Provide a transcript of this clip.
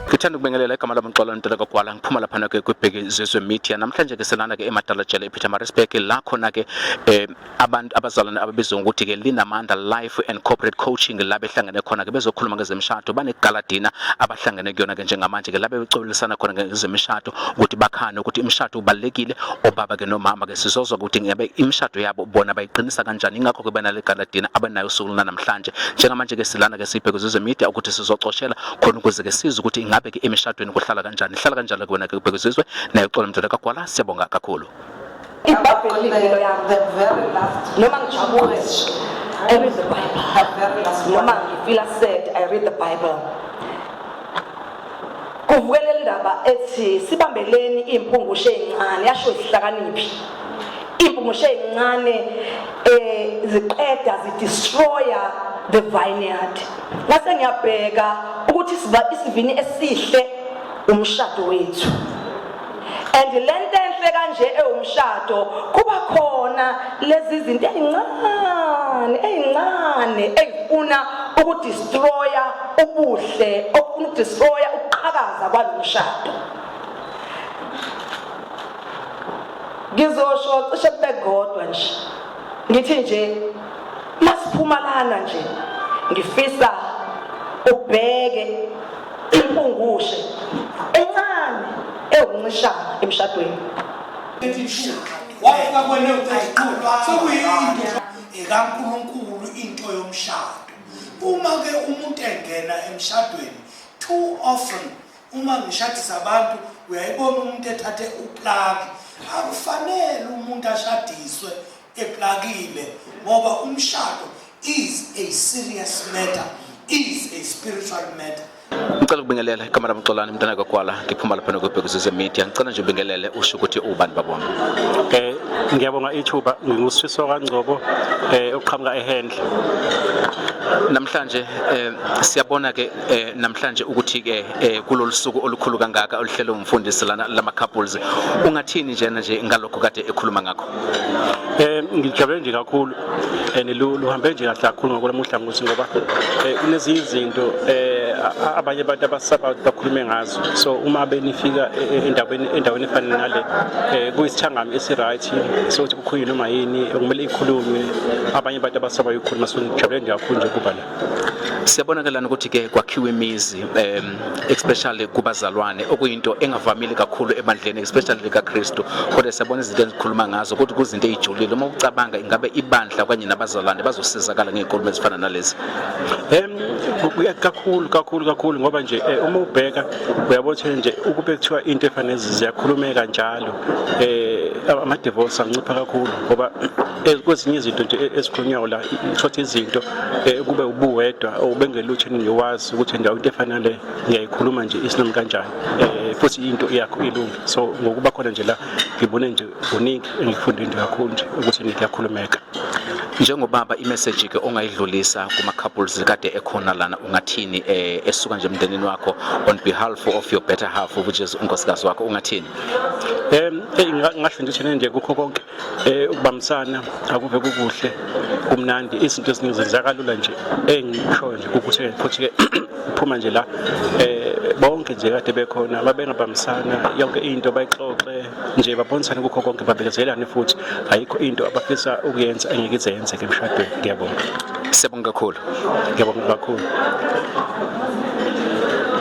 Ngithanda ukubingelela igama lami Xolo Nteleko Gwala ngiphuma lapha ke kwibheki zezwe media namhlanje ke selana ke eMadalajele ePetermaritzburg la khona ke eh, Abantu abazalwane ababizwa ngokuthi ke Linamandla Life and Corporate Coaching la behlangene khona ke bezokhuluma ngezemishado banegaladina abahlangene kuyona ke njengamanje ke la becolisana khona ngezemishado ukuthi bakhane ukuthi imishado ubalekile obaba ke nomama ke sizozwa ukuthi ngabe imishado yabo bona bayiqinisa kanjani ingakho ke banale galadina abanayo usuku namhlanje njengamanje ke silana ke sibheke zizwe media ukuthi sizocoshela khona ukuze ke sizwe ukuthi ingabe ke emishadweni kuhlala kanjani ihlala kanjalo ke wena ke ubheke zizwe nayo xola mdala kagwala siyabonga kakhulu ibhabheli limpilo yami noma ngijabule I read the Bible. Noma ngifila sad, I read the Bible. Kuvukele indaba ethi sibambeleni impungushe ezincane yasho isihlakaniphi. Impungushe ezincane eh ziqeda zidestroya the vineyard. Ngase ngiyabheka ukuthi isivini esihle umshado wethu. and lento enhle kanje ewumshado kuba khona lezi zinto ezincane ezincane ezifuna ukudestroya ubuhle okufuna ukudestroya ukuqhakaza kwalomshado ngizosho cishe kube kodwa nje ngithi nje masiphumalana nje ngifisa ubheke impungushe encane ewuncishana emshadweni ikankulunkulu into yomshado uma-ke umuntu engena emshadweni too often uma ngishadisa abantu uyayibona umuntu ethathe uplaki akufanele umuntu ashadiswe eplakile ngoba umshado is a serious matter is a spiritual matter ngicela ukubingelela ikamera mxolane mntana kagwala ngiphuma lapha nokubhekuzise media ngicela nje ubingelele usho ukuthi ubani babona eh ngiyabonga ithuba ngingusifiso kangcobo eh oqhamuka ehendle namhlanje eh, siyabona ke eh, namhlanje ukuthi ke eh, kulolu suku olukhulu kangaka oluhlelwe umfundisi lana lama couples ungathini njena nje ngalokho kade ekhuluma ngakho Eh ngijabule nje kakhulu and luhambe nje kahle kakhulu ngokwelamuhla ngokuthi ngoba eh, kunezinye izinto eh abanye abantu abasaba bakhulume ngazo so uma benifika e, e, endaweni endaweni efana nale eh kuyisithangami esiright so ukuthi kukhulunywe noma yini okumele ikhulunywe abanye abantu abasaba ukukhuluma so ngijabule nje kakhulu nje kuba la Siyabonakelana ukuthi ke kwakhiwa imizi um especially kubazalwane okuyinto engavamile kakhulu ebandleni especially likaKristu kodwa siyabona izinto engikhuluma ngazo ukuthi kuzinto ezijulile uma ucabanga ingabe ibandla okanye nabazalwane bazosizakala ngeenkulumo ezifana nalezi um kakhulu kakhulu kakhulu ngoba nje eh, uma ubheka uyabo ukuthi nje ukube kuthiwa into efanele ziyakhulumeka njalo um eh, ama-divorce ancipha kakhulu ngoba kwezinye izinto nje e-, ezikhulunywayo la shuthi izinto e, kube ubuwedwa obengelutho engiwazi ukuthi ndawo into efana le ngiyayikhuluma nje isinami kanjani e, futhi into yakho ilungi so ngokuba khona nje la ngibone nje kuningi engifunde into kakhulu nje ukuthi ngiyakhulumeka njengobaba imeseji ke ongayidlulisa kuma couples kade ekhona lana ungathini eh, esuka nje emndenini wakho on behalf of your better half which is unkosikazi wakho ungathini em hey ngasho nje nje kukho konke Eh ukubambisana akuve kukuhle kumnandi izinto eziningi zenzeka kalula nje engishoyo nje ukuthi futhi ke phuma nje la eh bonke nje kade bekhona babengabambisana yonke into bayixoxe nje babonisane kukho konke babekezelane futhi ayikho into abafisa ukuyenza engeke ize yenzeke emshadweni ngiyabonga siyabonga kakhulu ngiyabonga kakhulu